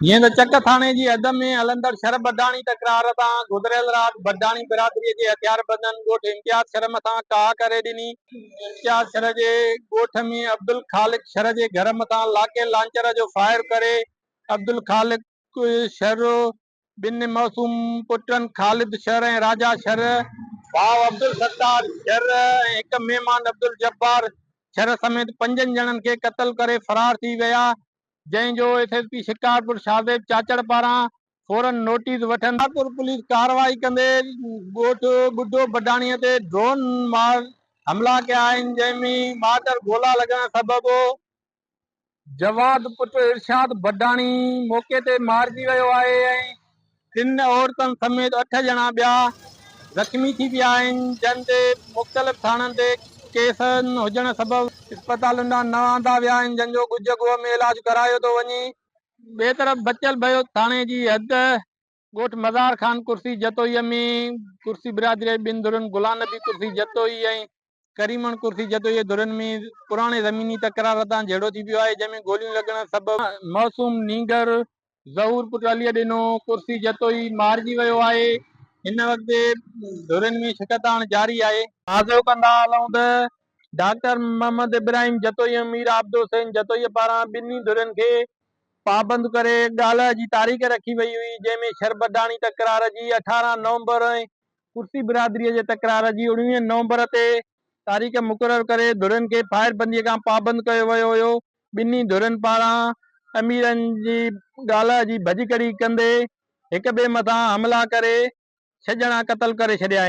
جيئن ته چڪ ٿاڻي جي حد ۾ هلندڙ شھر بڊاڻي تڪرار تان گذريل رات بڊاڻي برادري جي هٿياربندن ڳوٺ امتياز شھر مٿان ڪاهه ڪري ڏني، امتياز شھر جي ڳوٺ ۾ عبدالخالق شھر جي گهر مٿان لاڪي لانچر جو فائر ڪري عبدالخالق شھر ٻن معصوم پٽن خالد شر ۽ راجا شر، ڀاء عبدالستار شر ۽ هڪ مهمان عبدالجبار شر سميت پنجن ڄڻن کي قتل ڪري فرار ٿي ويا، جنهن جو S S P Shikarpur Shahzeb Chachar پاران فورن نوٽيس وٺندي. شڪارپور پوليس ڪارروائي ڪندي ڳوٺ ٻڍو بڊاڻي تي ڊرون مار حملا ڪيا آهن، جنهن ۾ ٻاٽر گولا لڳڻ سبب جواد پٽ ارشاد بڊاڻي موقعي تي مارجي ويو آهي ۽ ٽن عورتن سميت اٺ ڄڻا ٻيا زخمي ٿي پيا آهن جن تي مختلف ٿاڻن تي ڪيس هجڻ سبب اسپتالن ڏانهن نه آندا ويا آهن جن جو ڳجهه ڳوهه ۾ علاج ڪرايو ٿو وڃي. ٻئي طرف بچل بيوت ٿاڻي جي حد ڳوٺ مزار خان ڪرسي جتوئيء ۾ ڪرسي برادريء جي ٻن ڌرين گلان نبي ڪرسي جتوئي ۽ ڪريمڻ ڪرسي جتوئيء جي ڌرين ۾ پراڻي زميني تڪرار هتان جهيڙو ٿي پيو آهي، جنهن ۾ گوليون لڳڻ سبب معصوم نينگر ظهور پٽ عليء ڏنو ڪرسي جتوئي مارجي ويو آهي، هن وقت ڌرين ۾ شڪست آڻڻ جاري آهي. تازو ڪندا هلون ته ڊاڪٽر محمد ابراهيم جتوئي ۽ مير عابدالحسين جتوئيء پاران ٻنهي ڌرين کي پابند ڪري ڳالهه جي تاريخ رکي وئي هئي، جنهن ۾ شربڊاڻي تڪرار جي اٺارهن نومبر ۽ ڪرسي برادريء جي تڪرار جي اڻويهين نومبر تي تاريخ مقرر ڪري ڌرين کي فائر بنديء کان پابند ڪيو ويو هيو. ٻنهي ڌرين پاران اميرن جي ڳالهه جي ڀڄڪڙي ڪندي هڪٻئي مٿان حملا ڪري ڇهه ڄڻا قتل ڪري ڇڏيا آهن.